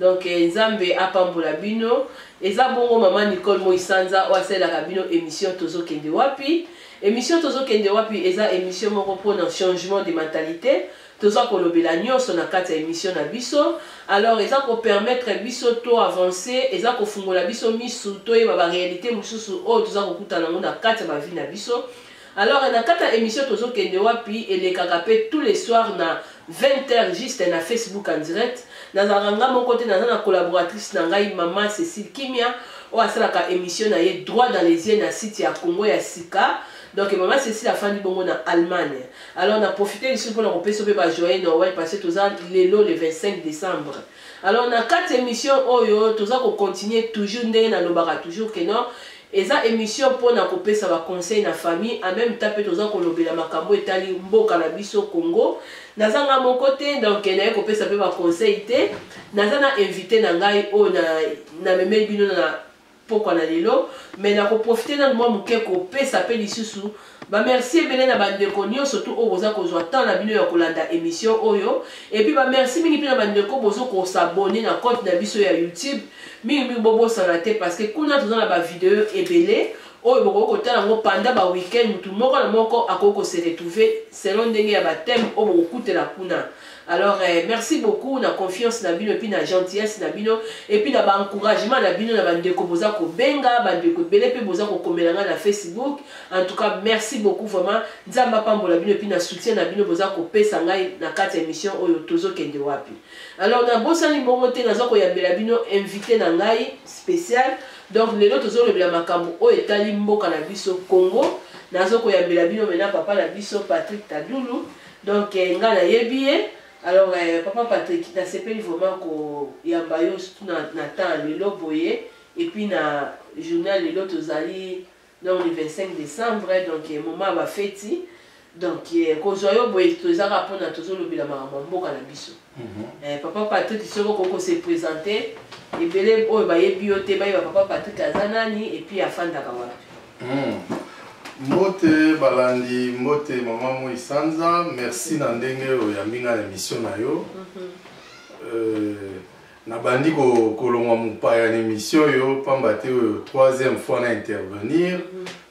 donc eh, nzambe apambola bino eza bongo mama nicole moisanza oyo asalelaka bino émission tozokende wapi émission tozokende wapi eza émission moko mpona changement de mentalité toza kolobela nyonso na kati ya émission na biso alors eza kopermettre biso to avance eza kofungola biso misu toyeba baréalité mosusu oyo toza kokutana yango na kati ya bavi na biso Alors na kati ya emission tozo kende wapi elekaka pe tous les soirs na 20 heures juste na Facebook en direct nazalaka nga moko te naza na collaboratrice na ngai mama Cécile Kimia oyo asalaka emission na ye droit dans les yeux na site ya Congo ya sika donc mama cécile afandi bongo na allemagne alors na profite lisusu mpona kopesa mpe bajoye noel parce que toza lelo le 25 décembre alors na kati émission oyo toza kocontinue toujours ndenge nalobaka toujours que non Eza emission pona ko pesa ba conseil na famille en meme temps pe toza ko lobela makambu etali mboka na biso Congo. Naza nga moko te donc naye ko pesa pe ba conseil te. Naza na invite na ngai oyo na na memeli bino na pokwa na lelo mais na ko profiter nanu mwa muke ko pesa pe lisusu Ba merci ebele na ba ndeko nionso tout oyo boza kozwa temps na bino ya kolanda emission oyo et puis ba merci mingi mpe na ba ndeko bozo ko s'abonner na compte na biso ya YouTube mingi mingi bobosana te parce que kuna toza na ba video ebele oyo bokoki kotala yango pendant ba week-end mutu moko na moko akoki ko se retrouver selon ndenge ya ba thème oyo bokokutela kuna alors eh, merci beaucoup na confiance na bino epuis na gentillesse na bino epuis na baencouragement na bino na bandeko boza kobenga bandeko ebele mpe boza kokomela ngai na facebook En tout cas, merci beaucoup vraiment. Nzambe apambola bino puis na soutien na bino boza ko pesa ngai na kati émission oyo tozo kende wapi. Alors na bosani mbongo te nazo ko yambela bino invité na ngai spécial. Donc lelo tozo lobela makambo oyo etali mboka na biso Congo. Nazo ko yambela bino mena papa na biso Patrick Tadulu. Donc eh, nga na yebi ye. Alors eh, papa Patrick, na sepeli vraiment ko yamba yo surtout na, na temps lelo boye et puis na journal lelo tozali donc le 25 decembre donc eh, moment ya bafeti donc eh, kozwa yo boye toza kaka mpona tozolobela makambo ya mboka na biso mhm. eh, papa patrik soki okoki kose présente ebele oyo bayebi yo te bayeba papa patrik aza nani epuis afandaka wapi mhm. mbote balandi mbote mama moi sanza merci na ndenge oyo oyambi ngai na émission na yo mhm. euh, Nabandi ko kolongwa mopaya na emission oyo pamba te oyo troisième fois na intervenir.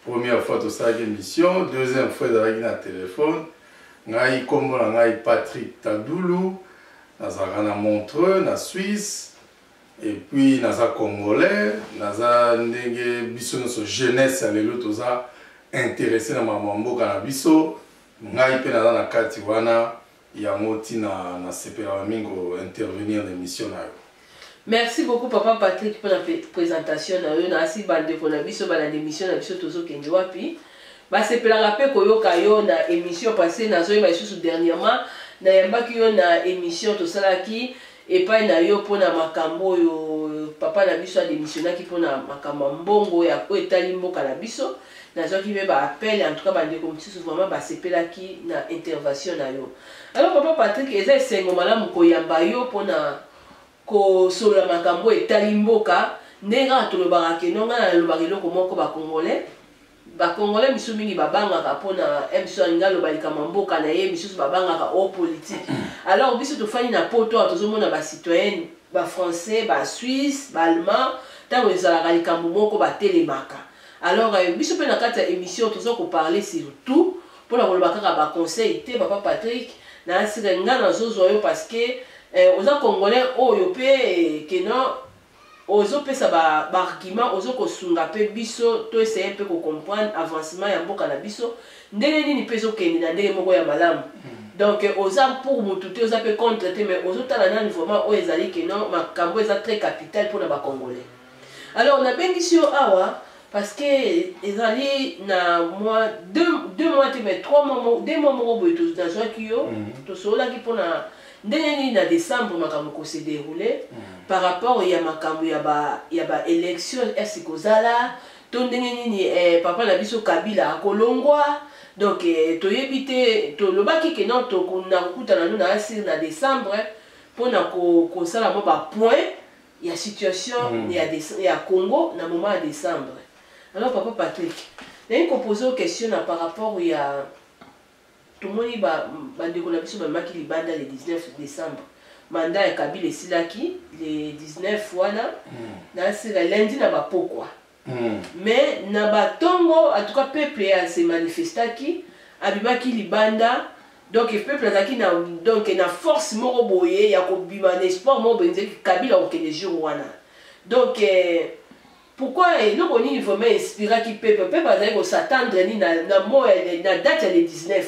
Première fois tosalaki emission, deuxième fois ezalaki na telefone. Ngai nkombo na ngai Patrick Tadulu, nazalaka na Montreux na Suisse. Et puis naza congolais, naza ndenge biso nyonso jeunesse ya lelo toza intéressé na makambo ya mboka na biso. Ngai mpe naza na kati wana. Yango tina na sepelaka mingi ko intervenir na emission na yo. Merci beaucoup papa Patrick pour la présentation na yo na asi bande ko na biso bala d'émission na biso tozo kende wapi. Ba sepelaka pe koyoka yo na émission passée na zo yeba lisusu dernièrement na yambaki yo na émission tosalaki epai na yo mpo na makambo oyo papa na biso ademisionaki mpo na makambo ya mbongo ya oyo etali mboka na biso nazwaki mpe baappel en tout cas bandeko mosusu vraiment basepelaki na intervention na yo alors papa patrick eza esengo malamu koyamba yo mpo na kosolola makambo oyo etali mboka ndenge kaka tolobaka keno ngai nalobaka eloko moko bacongolais Ba congolais misusu mingi ba bangaka pona MSO alingi aloba likambo ya mboka na ye, misusu ba bangaka o politique. Alors biso tofandi na poto awa tozo mona ba citoyens ba français, ba suisse, ba allemands tango ezalaka likambo moko ba telemaka. Alors biso pe na kati ya emission toza ko parler sur tout pona koloba kaka ba conseils te papa Patrick na asire nga nazo zwa yo parce que eh, oza congolais oyo pe que non Ozo pesa ba b'arguments ozo ko sunga pe biso to essayer pe ko comprendre avancement ya mboka na biso ndenge nini pe ezo kende na ndenge moko ya malamu donc oza pour mutu te oza pe contre te mais ozo tala nanu vraiment oyo ezali que non makambu oyo eza très capital pona ba congolais alors na bengisi yo awa parce que ezali na mwa deux deux mois te mais trois mois moko deux mois moko boye to na zwaki yo to sololaki pona Ndenge nini na decembre makambo ko se derouler par rapport ya makambo ya ba ya ba elections est-ce que kozala to ndenge nini eh, papa na biso Kabila akolongwa donc eh, toyebi te tolobaki ke non tokuna kokutana no na asir na decembre mpo na kosala mwa ba point ya situation mm. ya, ya Congo na moment ya decembre alors papa Patrick naye kopose question na par rapport ya Tomoni ba bandeko na biso bamemaki libanda le 19 decembre. Mandat ya Kabila esilaki le 19 wana na sila lundi na ba pokwa. Mais na ba tongo en tout cas peuple a se manifestaki abimaki libanda donc peuple azalaki na donc na force moko boye ya kobima na espoir moko boye nzeki Kabila akokende jour wana donc Pourquoi eloko nini vraiment inspiraki peuple peuple azali ko s'attendre ni na na mot na date ya le 19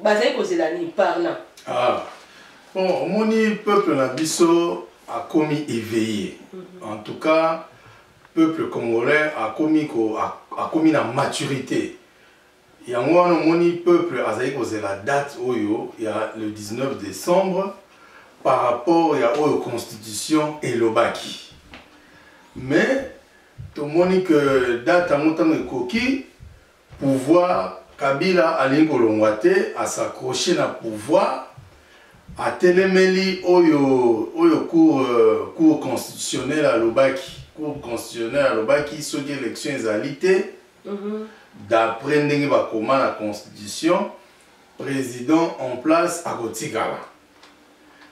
bazali kozela nini parlant ah bon omoni peuple na biso akomi éveillé mm -hmm. en tout cas peuple congolais akomi ko akomi na maturité yango wana omoni peuple azali kozela date oyo ya le 19 décembre par rapport ya oyo constitution elobaki mais tomoni que date yango ntango ekoki pouvoir kabila alingi kolongwa te asakroche na pouvoir atelemeli oyo oyo cour euh, cour constitutionnel alobaki cour constitutionnel alobaki soki élection ezali te Mhm. d'après ndenge bakoma na constitution président en place akotikala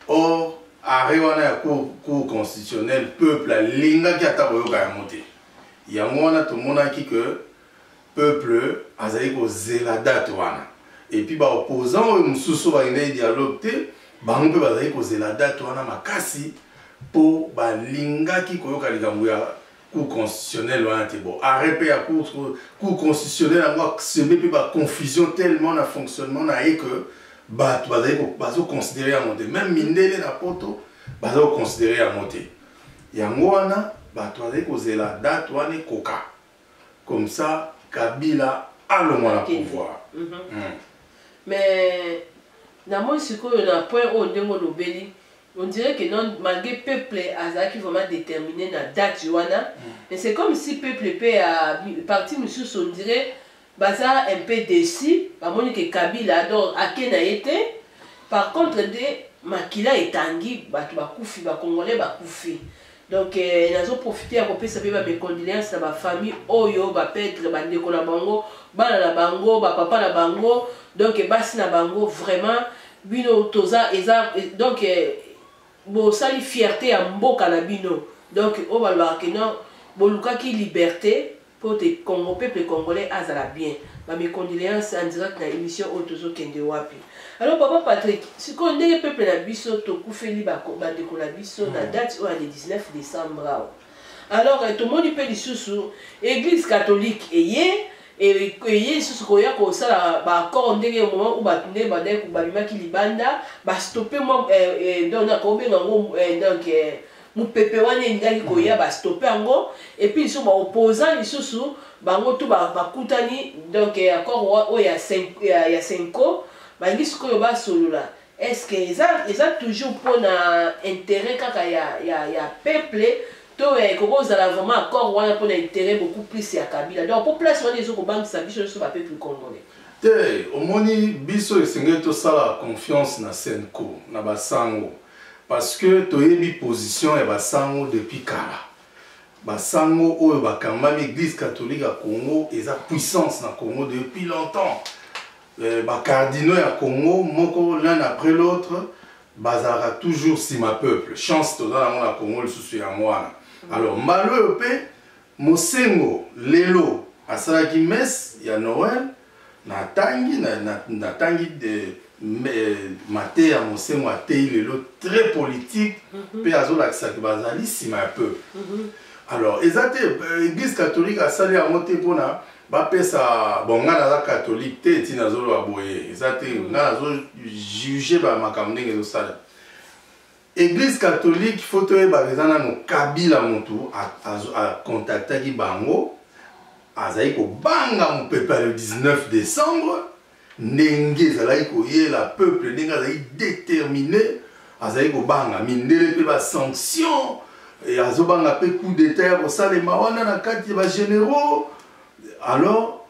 or arrêt wana ya cour, cour constitutionnelle peuple alingaki ata koyoka yango te yango wana tomonaki que peuple azali kozela date wana epuis baopposant oyo mosusu balingaki dialogue te bango mpe bazali kozela date wana makasi mpo balingaki koyoka likambo ya cour constitutionnelle wana te bon arrêt mpe ya cour cour constitutionnelle yango aseme mpe baconfusion tellement na fonctionnement na ye que bato bazali bazoconsidere yango te meme mindele na poto baza koconsidere yango te yango wana bato bazali kozela date wana ekoka comme ça kabila alongwa na pouvoir mm -hmm. mm. mais namoni sikoyo na point oyo ndenge olobeli On dirait que non, malgré peuple azalaki vraiment determine na date wana, mais c'est comme si peuple pe ya parti mususu on dirait baza un peu déçu, bamoni que Kabila donc ake na ye te. Par contre nde makila etangi, batu bakufi, ba congolais bakufi. Donc eh, nazo profiter ya kopesa pe ba mes condoléances na ba famille oyo ba pètre ba ndeko na bango bana na bango ba papa na bango donc eh, basi na bango vraiment bino toza eza eh, donc eh, bosali fierté ya mboka na bino donc oyo balobaka ke non bolukaki liberté Po te Congo peuple congolais azala bien ba mes condoleances en direct na emission oyo tozo kende wapi alors papa Patrick sikoyo ndenge peuple na biso tokufeli ba ba ndeko na biso na date oyo ya le 19 decembre awa alors eh, tomoni pe lisusu eglise catholique eye eye lisusu koya kosala baaccord ndenge moment oyo bato nde bandaki babimaki libanda bastope mwa eh, eh, donc nakobenga yango donc mupepe wana elingaki koya mm. bastope yango epuis lisusu baopposant lisusu bango tu bakutani donc eh, accord oyo ya senco balingi sikoyo basolola est ce que eza, eza toujours mpona intérêt kaka ya, ya, ya peuple to eh, ekoki kozala vraiment accord wana mpona intérêt beaucoup plus ya kabila donc mpo place wana ezo kobangisa biso nyonso bapeuple congolais te omoni biso esengeli tosala confiance na senco na basango Parce que toyebi position ya ba sango depuis kala. Ba sango oyo ba kambami Eglise catholique ya Congo eza puissance na Congo depuis longtemps. Euh, ba cardinaux ya Congo moko l'un après l'autre bazalaka toujours sima peuple. Chance toza nango na Congo lisusu ya mwana. Alors mbalo oyo pe Mosengo lelo asalaki messe ya Noël natangi natangi de mateya mosengo ateyi lelo très politique mhm. mpe azolakisaki bazali nsima ya peu mhm. alors eza te euh, église catholique asali yango te mpona bapesa bon ngai naza catholique te ntina azoloba boye eza te mhm. ngai nazojuge bamakambo ndenge ezosala Eglise catholique faut toyebaka eza nano Kabila mutu akontaktaki bango azali kobanga mopepe ya le 19 décembre ndenge ezalaki koyela peuple ndenge azali déterminé azali kobanga mindele mpe basanction eh, azobanga mpe coup d'état ya kosalema wana na kati ya bagénéraux alors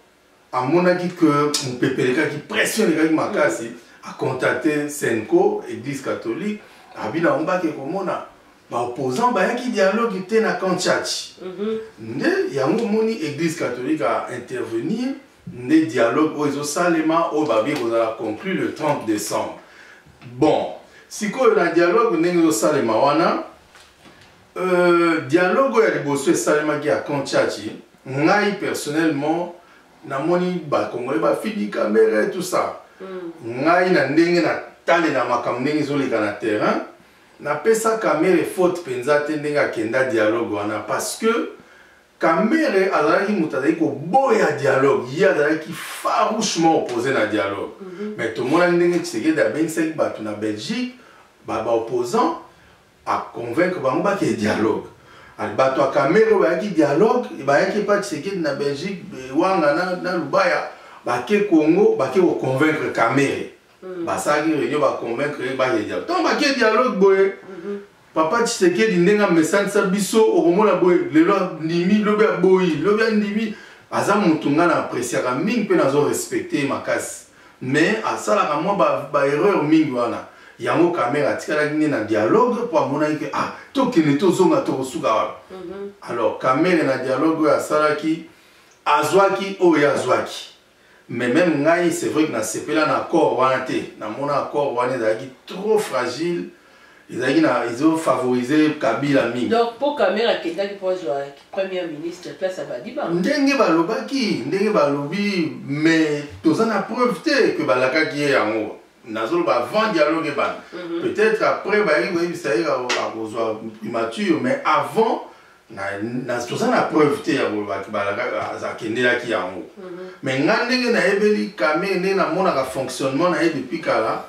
amonaki que mopepe elekaki pression elekaki makasi acontacte senco église catholique abi na yango bake komona baopposant bayaki dialogue te na kanchachi mhm. nde yango omoni église catholique a intervenir nde dialogue oyo ezosalema oyo babi ekozala conclure le 30 décembre bon sikoyo na dialogue ndenge ezosalema wana Euh, dialogue ya liboso esalemaki ya camp Tchatchi, ngai personnellement namoni ba congolais ba fidi kamere tout ça. Mm. Ngai na ndenge na tale na makambo ndenge ezoleka na terrain, napesa kamere faute mpenza te ndenge akenda dialogue wana parce que kamere azalaki moto azalaki koboya dialogue ye azalaki farouchement oppose na dialogue mm -hmm. mais tomonaki ndenge tshisekedi abengisaki bato na belgique babaopposant ba a convaincre bango bakende dialogue ati bato ya kamere bayaki dialogue bayaki epa tshisekedi na belgique wanga na, na lubaya bake congo bake koconvaincre kamere mm. basalaki réunion baconvaincre ye bakende dialogue ntango bake dialogue boye mm -hmm. papa tshisekedi ndenge amesanisa biso okomona boye lelo andimi lobi aboyi lobi andimi aza motu ngai na apresiaka mingi mpe nazo respecte ye makasi Mais asalaka mwa ba, ba erreur mingi wana. Yango Kamerhe atikalaki nde na dialogue mpo amonaki ke ah tokende tozonga tokosuka wapi? Mm -hmm. Alors Kamerhe na dialogue oyo asalaki azwaki oyo ye azwaki mais meme ngai c'est vrai que nasepela na accord wana te namona accord wana ezalaki trop fragile ezalaki na ezo favoriser kabila mingi donc mpo kamere akendaki mpo azwa première ministre place ya badiba ndenge balobaki ndenge balobi mais toza na preuve te ke balakaki ye yango nazoloba avant dialogue ebanda mhm. peut-être après bayaki koyebisa ye akozwa primature mais avant toza na preuve te ya kolobaki akendelaki yango mhm. mais ngai ndenge nayebeli kamere ndenge namonaka fonctionnement na ye depuis kala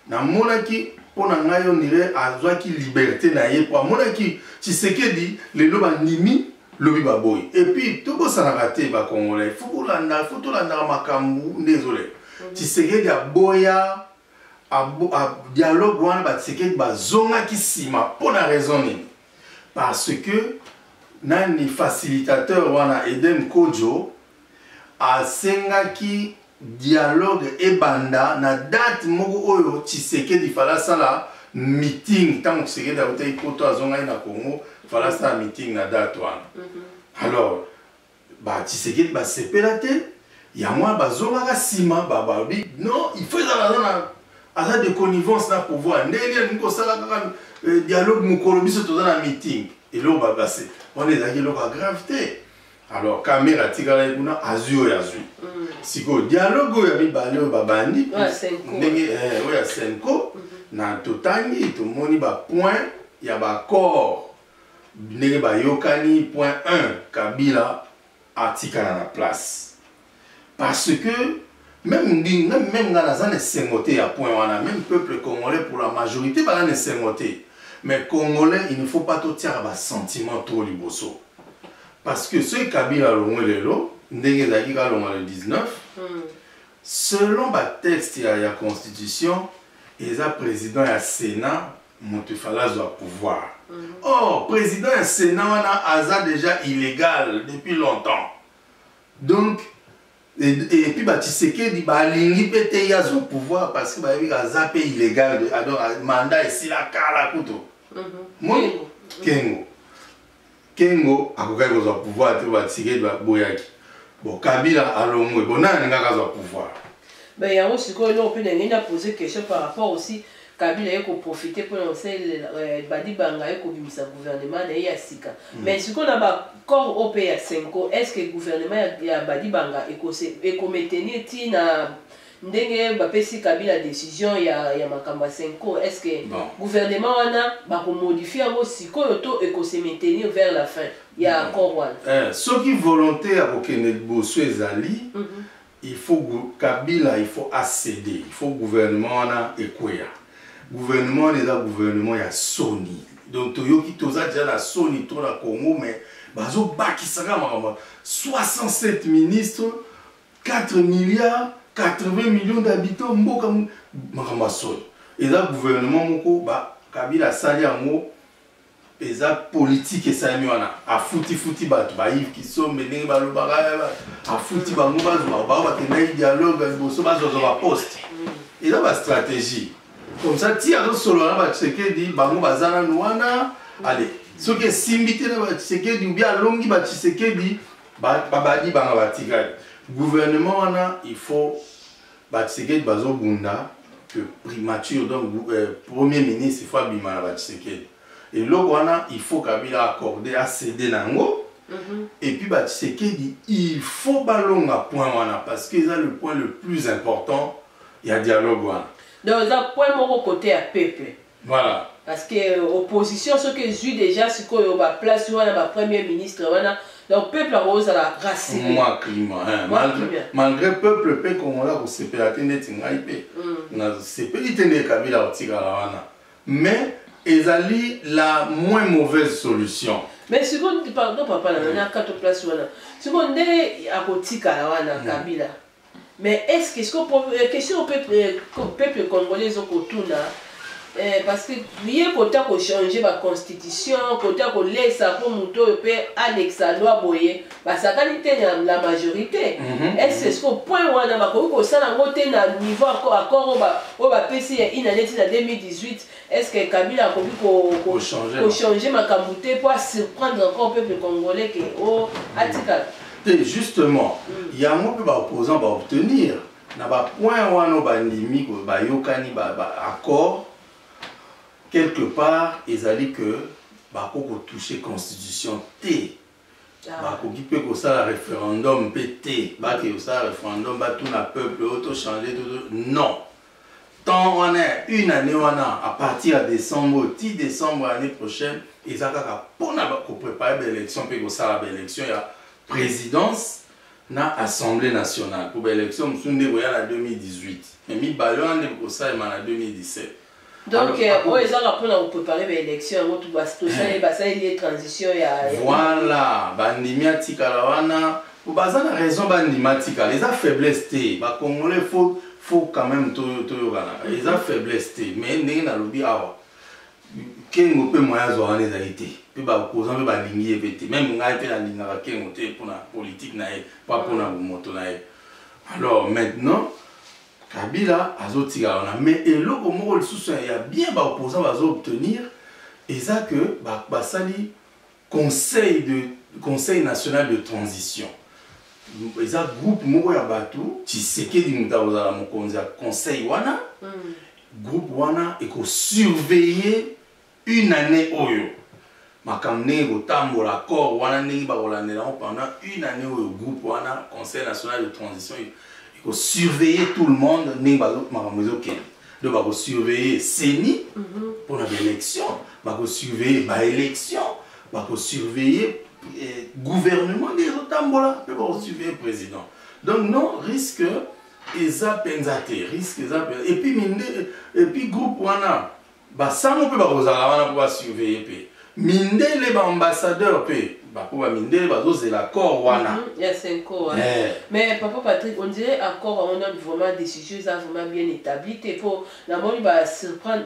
namonaki mpo na ngai ondire azwaki liberte na ye mpo amonaki tshisekedi lelo bandimi lobi baboyi epuis tobosanaka te bakongolai fo kolanda fo tolandaka makambo nde ezoleka mhm. tshisekedi aboya dialogue wana batshisekedi bazongaki nsima mpo na raison nini parce que nani facilitateur wana eden kojo asengaki dialogue ebanda na date moko oyo tshisekedi fala asala meeting ntango tshisekedi autaki poto azongaki na congo fala asala meeting na date wana mhm. alors batshisekedi basepela te yango wana bazongaka nsima bababi non il faut ezala aza na aza de connivence na pouvoir ndenge nini alingi kosala kaka euh, dialogue mokolo biso toza na meeting eloko babase wana ezalaki eloko ya grave te alors kamera atikalaki kuna azwi oyo azwi mm. sikoyo dialogue oyo ya mibale oyo babandi ndenge eh, oyo ya senco mhm. na totangi tomoni bapoint ya baaccord ndenge bayokani point 1 kabila atikala na place parce que même ndingi même même nga naza na esengo te ya point wana même peuple congolais pour la majorité baza na esengo te mais congolais il ne faut pas totiaka basentiment trop liboso parce que soki kabila alongwe lelo ndenge ezalaki kalonga le 19 mm. selon batexte ya, ya constitution eza président ya sénat moto efali azwa pouvoir mm. or président ya sénat wana aza déjà illégal depuis longtemps donc et puis ba Tshisekedi ba lingi pe te ya zo pouvoir parce que ba yebi ka za pe illégal de alors ah, mandat esila kala kuto mhm. moni kengo kengo akokaki kozwa pouvoir te ba Tshisekedi ba boyaki bon Kabila alongwe bon nani ngaka za pouvoir ben yango sikoyo eloko pe na ngenda poser question par rapport aussi Kabila aye ko profiter pona kosalela Badibanga aye kobimisa gouvernement na ye ya sika mais sikoyo na ba corps oyo mpe ya Cenco est ce que gouvernement ya Badibanga eko maintenir ti na ndenge bapesi Kabila decision ya makambo ya Cenco est ce que gouvernement wana bako modifier yango sikoyo to eko se maintenir vers la fin ya accord wana? Soki volonte ya kokende liboso ezali Il faut kabila il faut a ceder il faut gouvernement wana ekweya gouvernement wana eza gouvernement ya soni donc toyoki toza deja na soni to na congo mais bazobakisaka makambo 67 ministre 4 milliards 80 millions d'habitants mboka makambo ya soni eza gouvernement moko ba kabila asali yango eza politike esalemi wana afutifuti bato bayive kisombe ndenge balobaka afuti bango bazwa bao bakendaki dialogue liboso bazwazwa baposte eza bastratégie comme ça ti azosolola na batshisekedi bango baza nanu wana ale soki esimbi te na batshisekedi ubi alongi batshisekedi babadi banga batikali gouvernement wana il faut Ba Tshisekedi bazo bunda que primature donc euh, premier ministre faut abima na ba Tshisekedi. Eloko wana il faut Kabila accorder a céder nango. Mm -hmm. Et puis ba Tshisekedi il faut balonga point wana parce que eza le point le plus important ya dialogue wana. Donc eza point moko côté ya peuple. Voilà. Parce que euh, opposition ce que zui déjà ce que euh, ba place wana ba premier ministre wana donc peuple a oza la race. Moi climat hein. Malgré, malgré peuple pe congolais ko se pela tende tingai pe. Mm. Na se pe tende kabila otika la wana. Mais ezali la moins mauvaise solution. Mais ce qu'on pardon papa na na kato place wana. Ce qu'on nde akotika la wana mm. kabila. Mais est-ce que siko po- eh, question peuple eh, ko- peuple congolais ezo kotuna eh, parce que ye kota kochanger ba constitution kota kolesa mpo moto oyo mpe alekisa loi boye basakani te na la majorité Mhm. est-ce que siko point wana bakoki kosala yango te na niveau accord accord oyo ba- oyo bapesi ya inane ti na 2018 Est ce que Kabila akoki ko, ko, changer, ko changer makambo te mpo asurprendre encore peuple congolais ke o oh, atikala te justement mm. yango mpe baopposant baobtenir na bapoint wana bandimi bayokani baaccord quelque part ezali que bakoki kotouche constitution te bakoki mpe kosala referendum mpe te bake kosala referendum batuna peuple oyo tochange to non temps wana ya une année wana à partir ya décembre ti décembre année prochaine eza kaka mpona koprépare baélection mpe kosala baélection ya présidence na assemblée nationale mpo baélection mosusu nde koya na 2018 me mibale wana nde kosalema na 2017 donc euh, oyo ezaka mpo na koprepare baélection yango eh. basaleli ye transition ya voilà bandimi atikala wana baza na raison bandima atikala eza faiblesse te bacongolais faut faut quand même toyokanaka eza mhm. faiblesse te mais ndenge nalobi awa kengo mpe moya azwa wana ezali te mpe bakoza mpe balingi ye mpe te meme ngai mpe nalingaka kengo te mpona politike na ye mpa mpona bomoto na ye alors maintenant Kabila azotika wana mais eloko moko lisusu ya bien ba opposants bazo obtenir eza que basali conseil de conseil national de transition eza groupe moko ya bato tshisekedi moto akozala mokonzi ya conseil wana mm. groupe wana ekosurveiller une annee oyo makambo ndenge kotambola accord wana ndenge bakolandela yango pendant une année oyo groupe wana conseil national de transition ekosurveille tout le monde ndenge makambo ezokende donc bakosurveille ceni mhm. mpona baélection bakosurveille baélection bakosurveille eh, gouvernement nde ezotambola mpe bakosurveille président donc non risque eza mpenza te risque eza mpenza epuis groupe wana Basango mpe bakozala wana mpo ba surveiller mpe mindele ba ambassadeur mpe bapo ba mindele bazozela accord wana mm -hmm. ya senko wana yeah. mais papa patrick on dirait accord yango nanu vraiment décision eza vraiment bien établi te mpo namoni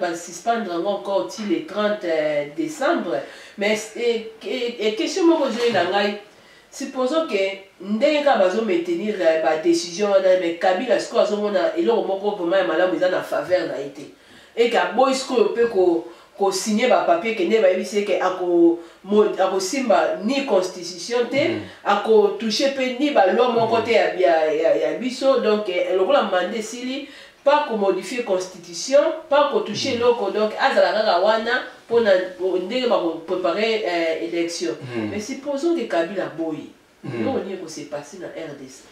basuspendre yango encore ti le 30 euh, décembre mais question moko ezoyi na ngai supposons ke ndenge kaka bazomaintenir euh, badécision wana mais kabila sikoyo azomona eloko moko vraiment ya malamu eza na faveur na ye te et que aboyi sikoyo mpe ko kosigne ba papier kende bayebisi ye ke akosimba ni constitution te mm. akotouche mpe ni baloi moko te ya, ya, ya, ya biso donc eh, lokola mande esili pas komodifie constitution pas kotouche mm. eloko donc azala kaka wana mpo na ndenge bakoprepare eh, élection mm. mais supposons ke kabila boyi Eloko nini ko se passer na RDC?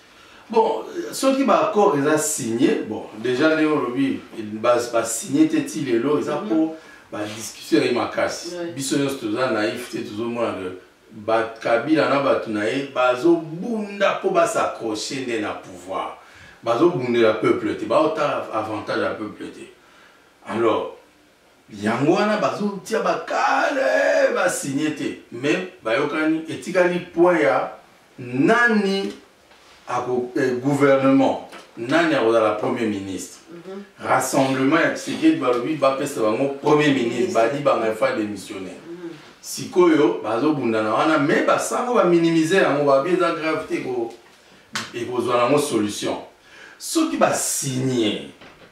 Bon, soki ba accords eza signé, bon, déjà leo lobi ba ba signé te ti lelo eza mhm. po ba discussion ya makasi. Biso nyonso toza naïf te tozomona que ba Kabila na bato na ye bazobunda mpo basaccroche nde na pouvoir bazobundela peuple te baotala avantage ya peuple te alors Yango wana bazotia ba cadre ba signe te mais bayokani etikali point ya nani ako eh, gouvernement nani akozala premier ministre mm -hmm. rassemblement ya tshisekedi balobi bapesa bango premier ministre badi banga efa démissionnaire mm -hmm. sikoyo bazobundana wana me basango baminimize yango babi eza grave te ekozwa nango solution soki basigne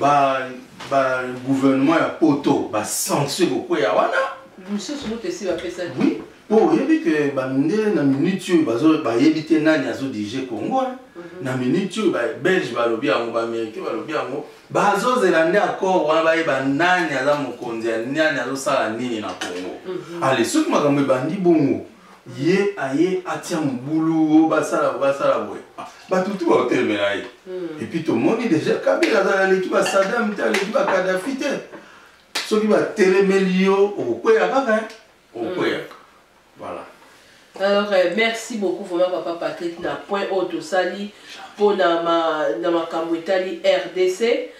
ba ba gouvernement ya poto ba sanction ekokweya wana mosusu moto esi bapesaki oui mpo oyebi ke bande na minute oyo bayebi te nani azodirige congo mhm. na minute oyo babelge balobi yango baaméricain balobi yango bazozela nde accord wana bayeba nani aza mokonzi ya nani azosala nini na congo mhm. ale soki makambo ebandi bongo ye aye atia mobulu o basala basala boye ah, bato tu baotelemela ye hmm. epuis tomoni deja kabila azala aleki basadam te aleki bakadafi te soki batelemeli yo okokweya kaka eh? okokweya hmm. voilà alors euh, merci beaucoup vraiment papa patrick na point oyo tosali mpo na makambo etali rdc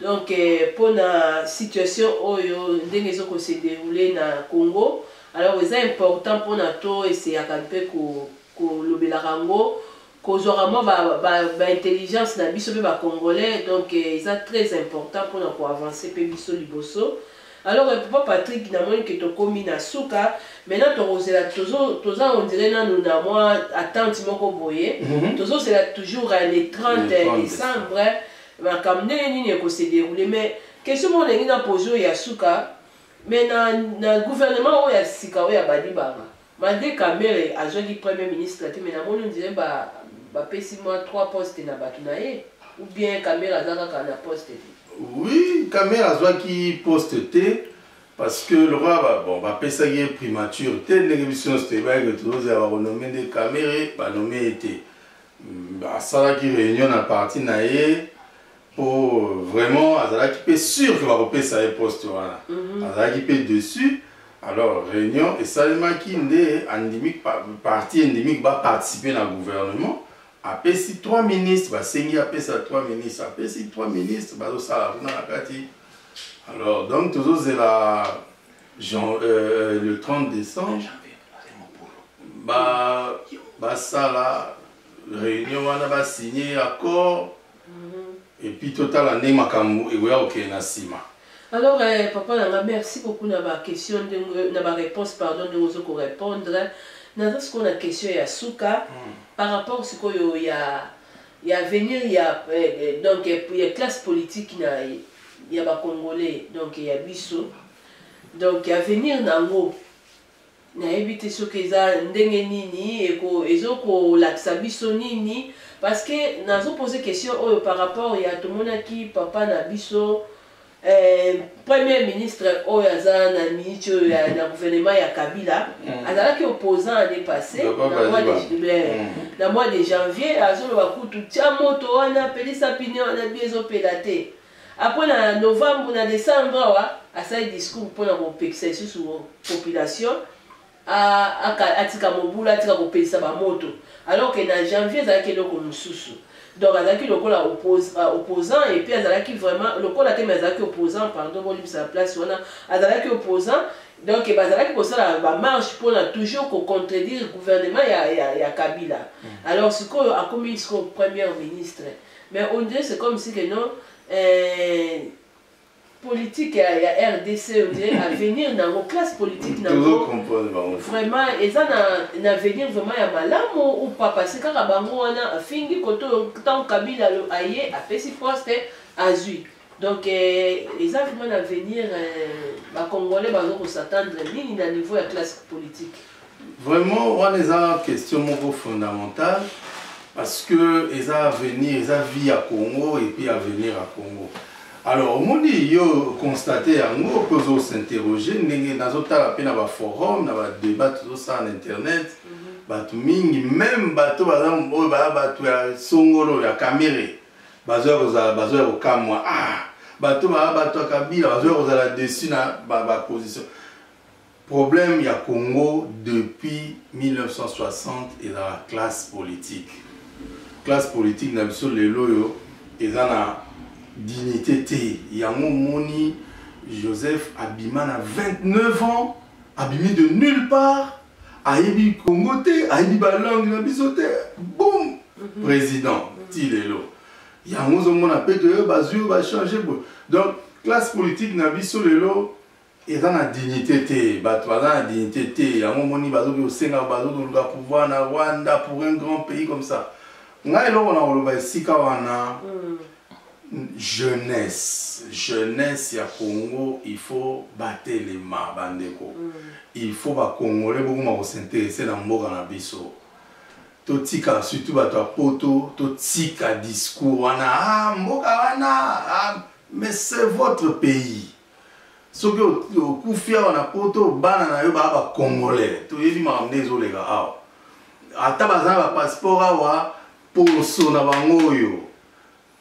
donc mpo euh, na situation oyo ndenge ezokosederoule na congo Alors eza important pona to essayaka mpe ko kolobelaka yango kozwaka mwa ba, ba, ba intelligence na biso mpe ba congolais donc eh, eza très important pona ko avancer mpe biso liboso alors eh, papa patrick namoni ke tokomi na suka maintenant tokozela toza ondire nanu na mwa attente moko boye mm -hmm. tozozela toujours eh, le 30 décembre makambo ndenge nini ekose déroule mais question moko nalingi na pose oyo ya suka Mais na, na gouvernement oyo ya sika oyo ya Badibanga, malgré Kamere azwaki premier ministre te mais namoni on dirait ba bapesi mwa trois postes na bato na ye ou bien Kamere aza kaka na poste te? Oui, Kamere azwaki poste te parce que lokola ba, bon bapesaki ye primature te ndenge biso nyonso toyebaki tozozela bakonome nde Kamere banome ye te. Asalaki réunion na parti na ye po vraiment azalaki mpe sur ke bakopesa ye poste wana mhm. azalaki mpe dessus alors réunion esalemaki nde andimi parti endimiki baparticipe na gouvernement apesi trois ministres basengi apesa trois ministres apesi trois ministres bazosala kuna na kati alors donc tozozela Jean, euh, le 30 décembre basala ba réunion wana basigne accord epuis totala nde makambo ekoya kokende na nsima alors eh, papa na nga merci beaucoup na baquestion ndenge na baréponse pardon ndenge ozo korépondre naza sikoyo na question ya suka hmm. par rapport sikoyo ya ya avenir ya eh, eh, donc ya classe politique na ya bacongolais donc ya biso donc avenir na yango nayebi te soki eza ndenge nini eko ezo kolakisa biso nini parce que nazo pose question oyo par rapport ya tomonaki papa na biso eh, premier ministre oyo aza na miniti oyo ya na gouvernement ya kabila mm. azalaki opposant année passée na mois de, mm. na mois de janvier azoloba kutu tia moto wana pelisa pine wana bi ezopela te Après na novembre na decembre awa asali discours pona kopekisa lisusu population atika mobulu atika kopelisa bamoto alors que na janvier ezalaki eloko mosusu donc azalaki lokola euh, opposant et puis azalaki vraiment lokola te mais azalaki opposant pardon bolimbisa na place wana azalaki opposant donc bazalaki kosala bamarche mpona toujours kocontredire gouvernement ya, ya, ya kabila mm. alors sikoyo akomi sikoyo première ministre Mais on dirait c'est comme si que non euh, politique ya, ya rdc on dirait avenir nango classe politique tozo nango comprendre bango te. vraiment eza na, na avenir vraiment ya malamu ou pas parce que kaka bango wana afingi koto ntango kabila alo- aye apesi poste azwi Donc eh, eza vraiment na avenir eh, ba congolais bazo ko s'attendre nini na niveau ya classe politique. Vraiment wana eza question moko fondamentale parce que eza avenir eza vie ya Congo et puis avenir ya Congo. Alors omoni yo constate yango mpe ozo s'interroger ndenge nazotala mpe na ba forum na ba débat tozosala na internet mhm. bato mingi meme bato baza oyo baya bato ya songolo ya kamere bazoya kozala bazoya kokamwa ah bato baa bato ya kabila bazoya kozala dessus na baposition ba problème ya congo depuis 1960 ezala classe politique classe politique na biso lelo oyo eza na dignité te yango omoni joseph abima na 29 ans abimi de nulle part ayebi congo te ayebi balangue na biso te bom mhm. président mhm. ti lelo yango ozomona mpe toyo bazwi oyo bachange boye donc classe politique na biso lelo eza na dignité te bato baza na dignité te yango omoni bazoki kosenga bazoki koluka pouvoir na rwanda pour un grand pays comme ça ngai eloko na koloba esika wana mm. jeunesse jeunesse ya congo il faut batelema bandeko mm. il faut bakongole bokoma kosinterese na mboka na biso totika surtout bato ya poto totika discours wana ah, mboka wana ah, mais c'est votre pays soki okufi awa na poto bana na yo baa bacongolais toyebi makambo nde ezoleka awa ata baza na bapasseport awa poso na bango oyo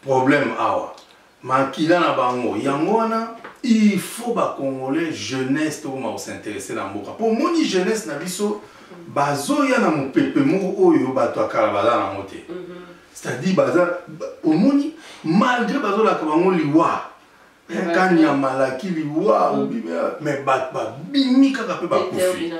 problème awa makila na bango yango wana il faut ba congolais jeunesse to ma s'intéresser na mboka po moni jeunesse na biso bazoya na mopepe moko oyo bato ya kala baza nango te mhm. c'est-à-dire baza omoni malgré bazolaka bango liwa kani ya malaki liwa mm. mais bato babimi kaka mpe bakufi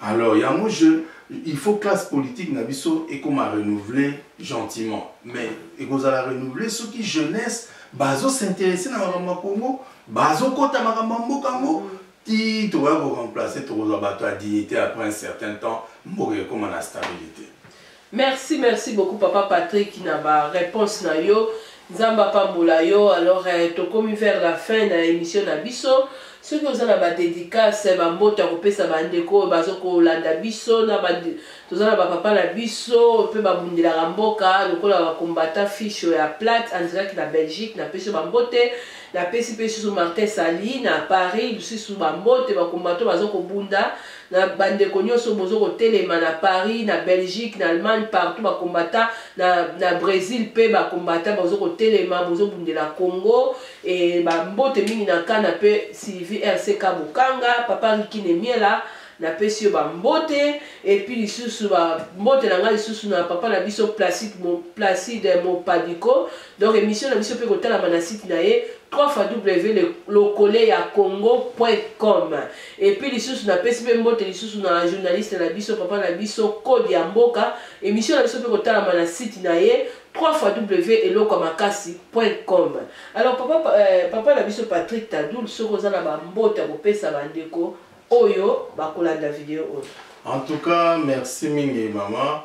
alors yango je il faut classe politique na biso ekoma renouveler gentiment mais ekozala renouveler soki jeunesse bazo s'intéresse na makambo ya congo bazokɔta makambo ya mboka yango mm. Tii tokoya ko remplacer tokozwa bato ya dignite après un certain temps mboka ekoma na stabilite. Merci merci beaucoup papa Patrick na ba reponse na yo nzambe apambola yo alors eh, tokomi vers la fin na emission na biso soki oza na ba dedicace eh, ba mbote ya kopesa ba ndeko oyo bazo kolanda biso na ba toza na ba papa na biso pe babundelaka mboka lokola ba combattant fiche ya plate andilaki na Belgique na peso ba mbote Na pesi pe lisusu Martin Sali na Paris lusisu ba mbote ba combattant bazo ko bunda na ba ndeko nioso bozo ko telema na Paris na Belgique na Allemagne partout ba combattant na na Bresil pe ba combattant bazo ko telema bozo bundela Congo et ba mbote mingi na Kana pe Sylvie RCK Bokanga papa Ricky Nemiela Na pesi yo ba mbote et puis lisusu ba mbote na nga lisusu na papa na biso Placide mo Placide mo Padiko donc emission na biso pe ko talama na site na ye 3 fois W le lokole ya congo.com et puis lisusu na pesi pe mbote lisusu na journaliste na biso papa na biso code ya mboka emission na biso pe ko talama na site na ye 3 fois W eloko makasi.com alors papa euh, papa na biso Patrick Tadoul soki oza na ba mbote ya ko pesa ba ndeko oyo bakolanda video oyo en tout cas merci mingi mama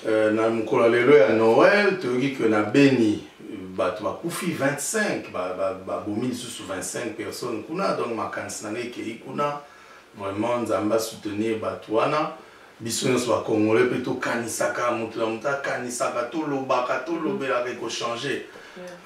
euh, na mokolo ya lelo ya noel toyoki ke na beni bato bakufi 25 babomi lisusu 25 personnes kuna donc makanisi na ngai ekei kuna vraiment nzambe asoutenir bato wana biso nyonso ba congolais mpe tokanisaka moto na moto akanisaka tolobaka tolobelaka mm. ekochange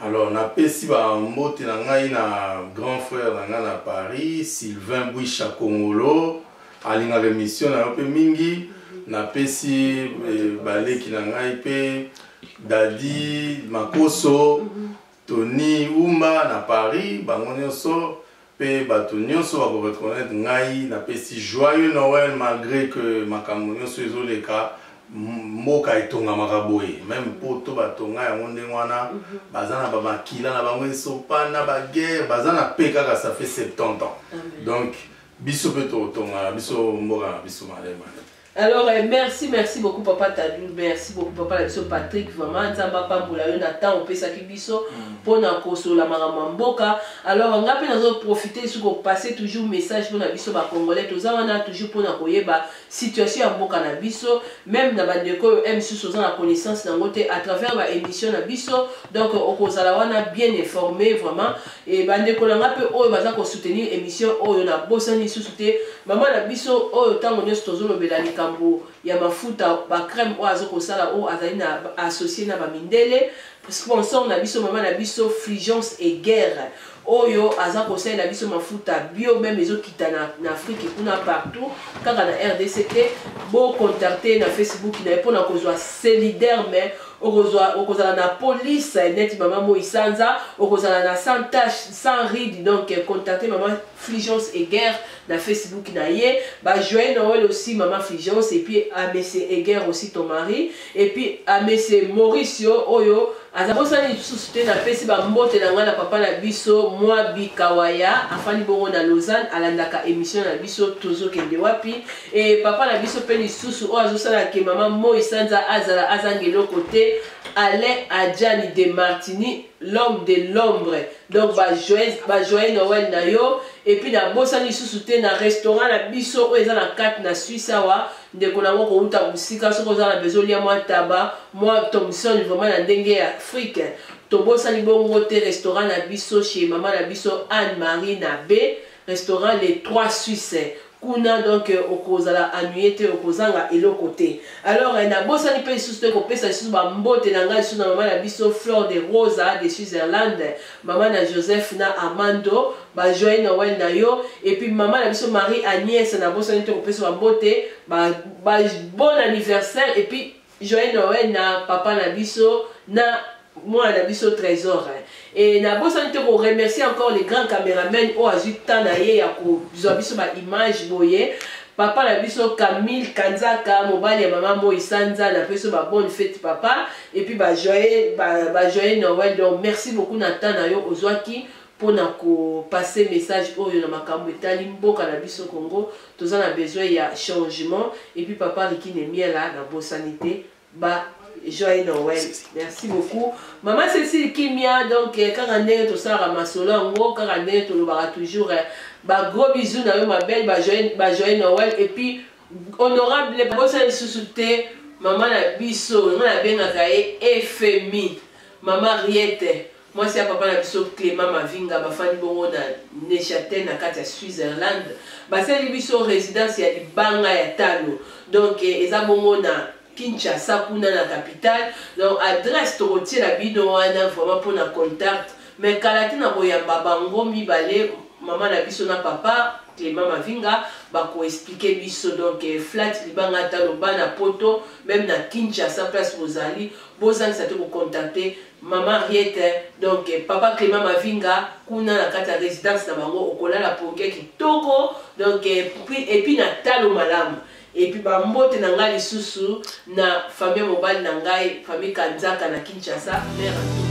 alors napesi bambote na ngai na grand frère na ngai na paris sylvain bwisha kongolo alingaka émission na yo mpe mingi mm-hmm. napesi eh, baleki na ngai mpe dadi makoso mm-hmm. Tony Umba na Paris, bango nionso pe batu nionso bako reconnaitre ngai na pesi joyeux Noël malgre que makambo nionso ezo leka mboka etongamaka boye meme poto ba tonga yango ndenge wana baza na ba makila na bango esopana ba guerre baza na paix kaka ça fait 70 ans donc biso pe tokotongaka biso mboka na biso malemane Alors eh, merci merci beaucoup papa Tadou merci beaucoup papa la biso Patrick vraiment nzamba pambola yo na temps opesaki biso mm. pona kosola makambo mboka alors nga pe nazo profiter sur ko passer toujours message pona biso ba congolais toza wana toujours pona koyeba situation ya mboka na biso même na bandeko oyo msus oza na connaissance nango te à travers ba émission na biso donc okozala wana bien informé vraiment Et ba ndeko na nga pe oyo baza ko soutenir emission oyo na bosani lisusu te maman na biso oyo tango nyoso tozo lobela likambo ya mafuta ba crème oyo azo kosala oyo azali na associé na ba mindele sponsor na biso maman na biso Fulgence et Guerre oyo aza kosalela biso mafuta bio meme ezokita na, na afrique kuna partout kaka na rdc te bocontacte na facebook na ye mpo na kozwa solidaire mais okozwa okozala na police neti mama moi sanza okozala na sans tache sans ride donc contacte mama fligence eger na facebook na ye bajoye noel aussi mama fligence epuis amese ah, eger aussi ton mari epuis amese ah, mauricio oyo aza bosani lisusu te napesi bambote na ngai na papa na biso mwa bikawaya afandi bongo na lausanne alandaka émission na biso tozokende wapi Et papa na biso pe lisusu oyo azosala ke mama moi sanza azala azanga eloko te alain adjani de martini l'homme de l'ombre donc bajoyeux ba noël na yo epuis nabosani lisusu te na restaurant na biso oyo eza na kati na suisse awa ndeko na yango kouta mosika soki oza na bezo lia mwa taba mwa thomson vraiment na ndenge ya afrique tobosani bongo te restaurant na biso chez mama na biso anne marie na be restaurant les trois suisse kuna donc okozala ennuye te okozanga eloko te alors eh, nabosani mpe lisusu te kopesa lisusu bambote na ngai lisusu na mama na biso fleur de rosa de switzerland mama na joseph na armando bajoye noel na yo epuis mama na biso marie agnès nabosani te kopesa bambote ba, ba bon anniversaire epuis Joyeux Noël na papa na biso na mwana na biso trésor hein. et nabosani te koremercie encore le grand cameraman oyo azwi temps na ye ya kozwa biso baimage boye papa na biso camille kanzaka mobali ya mama moi sanza na biso babonne fete papa epuis bajoye ba, ba noël donc merci beaucoup na temps na yo ozwaki pona ko passer message oyo na makambu etali mboka na biso Congo toza na besoin ya changement et puis papa Ricky Nemiela na bosani te ba joyeux Noël merci beaucoup maman Cécile Kimia donc eh, kaka ndenge tosalaka masolo yango kaka ndenge tolobaka toujours eh, ba gros bisous na yo ma belle ba joyeux ba joyeux Noël et puis honorable bosana lisusu te mama na biso nga nabengaka ye efemi mama riete Mwasi ya papa na biso Clement Mavinga bafandi bongo na Neuchâtel na kati ya Switzerland basali biso residence ya libanga ya talo donc eh, eza bongo na Kinshasa kuna na capitale donc adresse tokotiela bino wana vraiment mpo na contact mais kala te na koyamba bango mibale mama na biso na papa Clément Mavinga bakoexplike biso donc eh, flat libanga talo bana poto meme na Kinshasa place bozali bozangisa te kocontacte mama riete donc papa clément mavinga kuna na kati ya résidence na bango okolala pongi ya kitoko donc epuis na talo malamu epuis bambote na ngai lisusu na famille mobali na ngai famille kanzaka na kinshasa mare